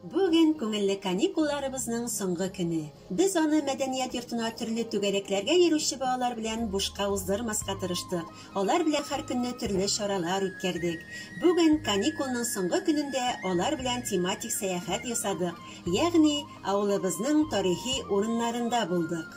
Бүген күңелле каникулларыбызның соңгы көне. Без аны мәдәният йортына төрле түгәрәкләргә йөрүче балалар белән бушка уздырмаска тырыштык. Алар белән һәркөнне төрле чаралар үткәрдек. Бүген, каникулның соңгы көнендә, алар белән тематик сәяхәт ясадык, ягъни авылыбызның тарихи урыннарында булдык.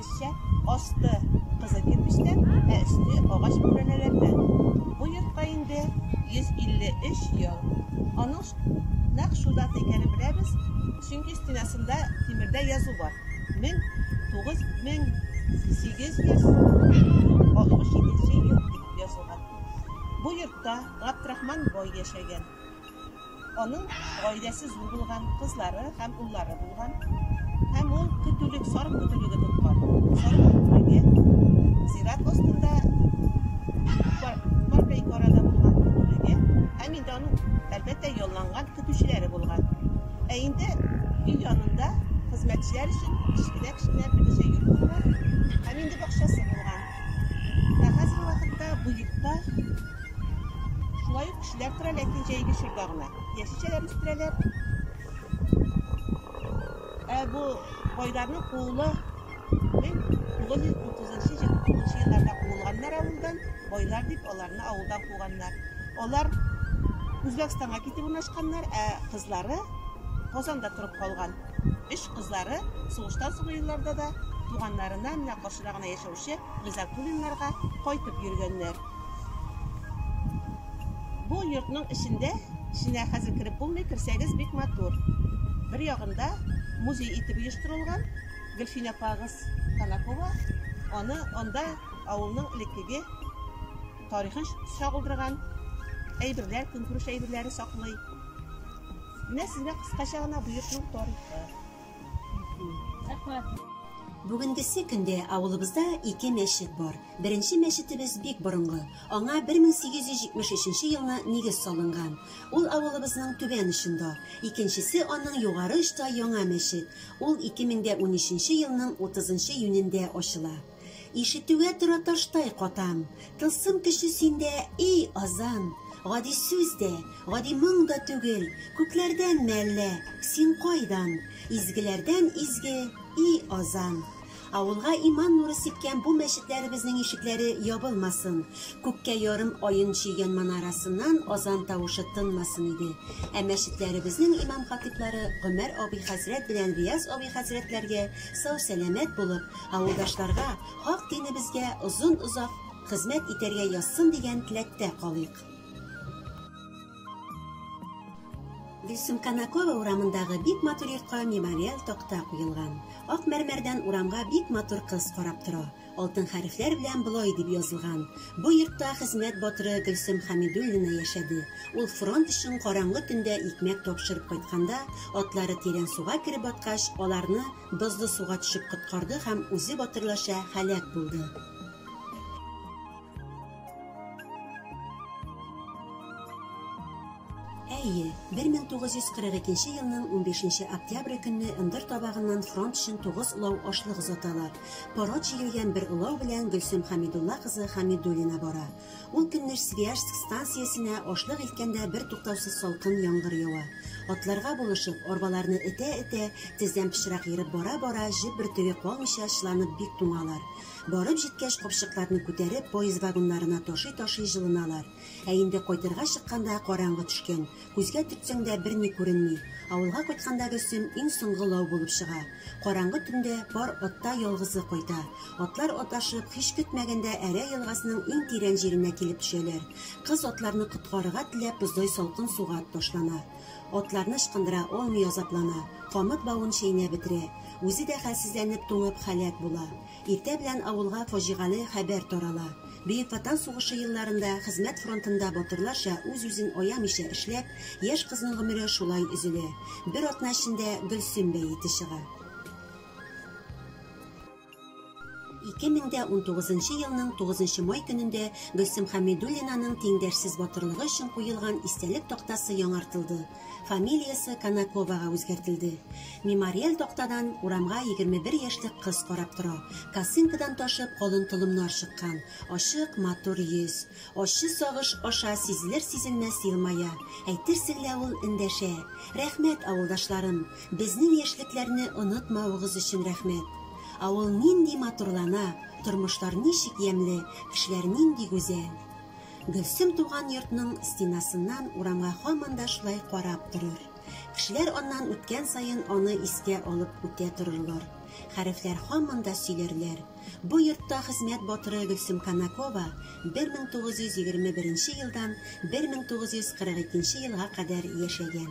Эшчән, асты кызыл кирпечтән, ә өсте агач бүрәнәләрдән. Бу йортка инде 153 ел. Аның нәкъ шул дата икәнен беләбез, чөнки стенасында тимердә язу бар, 1867 ел дип язылган. Бу йортта Габдрахман бай яшәгән. Аның гаиләсе зур булган, кызлары һәм уллары булган һәм ул көтүлек, сарык көтүлеге тоткан. Сарык көтүлеге зират астында паркайк арада булган көтүлеге һәм инде аның, әлбәттә, ялланган көтүчеләре булган. Ә инде өй янында хезмәтчеләр өчен кечкенә-кечкенә берничә йорт булган һәм инде бакчасы булган. Ә хәзерге вакытта бу йортта Шулай ук кешеләр тора, ләкин җәйге чорда гына. Яшелчәләр үстерәләр. Ә бу байларның кулы 1930-29 елларда куылганнар авылдан, байлар дип аларны авылдан куганнар. Алар Үзбәкстанга китеп урнашканнар, ә кызлары Казанда торып калган. Өч кызлары сугыштан соңгы елларда да туганнарына, менә каршыда гына яшәүче Гизатуллиннарга кайтып йөргәннәр. Бу йортның эчендә, эченә хәзер кереп булмый, керсәгез бик матур. Бер ягында музей итеп оештырылган, Гөлфинә апагыз Танакова аны анда авылның элеккеге тарихын чагылдырган әйберләр, көнкүреш әйберләре саклый. Менә сезгә кыскача гына бу йортның тарихы. Бүгенгесе көндә авылыбызда ике мәчет бар. Беренче мәчетебез бик борынгы, аңа 1873 елны нигез салынган. Ул авылыбызның түбән очында. Икенчесе аның югары очта яңа мәчет, ул 2013 елның 30 нчы июнендә ачыла. Ишетүгә тора таштай катам. Тылсым көче синдә, ий азан! Гади сүз дә, гади моң да түгел, Күкләрдәнме әллә, син кайдан? Изгеләрдән изге, ий азан! Авылга иман нуры сипкән бу мәчетләребезнең ишекләре ябылмасын, күккә ярым аен чөйгән манарасыннан азан тавышы тынмасын иде, ә мәчетләребезнең имам-хатыйблары Гомәр абый хәзрәт белән Рияз абый хәзрәтләргә сау-сәламәт булып, Авылдашларга хак динебезгә озын-озак хезмәт итәргә язсын дигән теләктә калыйк. Гөлсем Канакова урамындагы бик матур йортка мемориаль такта куелган. Ак мәрмәрдән урамга бик матур кыз карап тора. Алтын хәрефләр белән болай дип язылган, Бу йортта хезмәт батыры Гөлсем Хәмидуллина яшәде. Ул фронт өчен караңгы төндә икмәк тапшырып кайтканда, атлары Тирән суга кереп баткач, аларны Бозлы суга төшеп коткарды һәм үзе батырларча һәлак булды. Әйе, 1942 елның 15 октябрь көнне ындыр табагыннан фронт өчен тугыз улау ашлык озаталар. Пород җигелгән бер улау белән Гөлсем Хәмидулла кызы Хәмидуллина бара. Ул көнне Свияжск станциясенә ашлык илткәндә бертуктаусыз салкын яңгыр ява. Атларга булышып, арбаларны этә-этә, тездән пычрак ерып бара-бара, җеп бөртеге калмыйча чыланып бик туңалар. Барып җиткәч, капчыкларны күтәреп, поезд вагоннарына ташый-ташый җылыналар. Ә инде кайтырга чыкканда караңгы төшкән. Күзгә төртсәң дә берни күренми. Авылга кайтканда Гөлсем иң соңгы лау булып чыга. Караңгы төндә пар атта ялгызы кайта. Атлар адашып, һич көтмәгәндә Әрә елгасының иң тирән җиренә килеп төшәләр. Кыз атларны коткарырга теләп боздай салкын суга ташлана. Атларны ычкындыра алмый азаплана, камыт бавын чәйнәп бетерә. Үзе дә хәлсезләнеп туңып һәлак була. Иртә белән авылга фаҗигале хәбәр тарала. Бөек Ватан сугышы елларында хезмәт фронтында батырларча үз-үзен аямыйча эшләп, яшь кызның гомере шулай өзелә. Бер атна эчендә Гөлсем бәете чыга. Ике мең дә унтугызынчы елның тугызынчы май көнендә Гөлсем Хәмидуллинаның тиңдәшсез батырлыгы өчен куелган истәлек тактасы яңартылды, Фамилиясе Конаковага үзгәртелде. Мемориаль тактадан урамга егерме бер яшьлек кыз карап тора. Косынкадан ташып калын толымнар чыккан. Ачык, матур йөз. Ачы сагыш аша сизелер-сизелмәс елмая. Әйтерсең лә ул эндәшә. Рәхмәт, авылдашларым! Безнең яшьлекләрне онытмавыгыз өчен рәхмәт! Авыл нинди матурлана, тормышлар ничек ямьле, кешеләр нинди гүзәл! Гөлсем туган йортның стенасыннан урамга һаман да шулай карап торыр. Кешеләр аннан үткән саен аны искә алып үтә торырлар. Хәрефләр һаман да сөйләрләр. Бу йортта хезмәт батыры Гөлсем Канакова 1921 елдан 1942 елга кадәр яшәгән.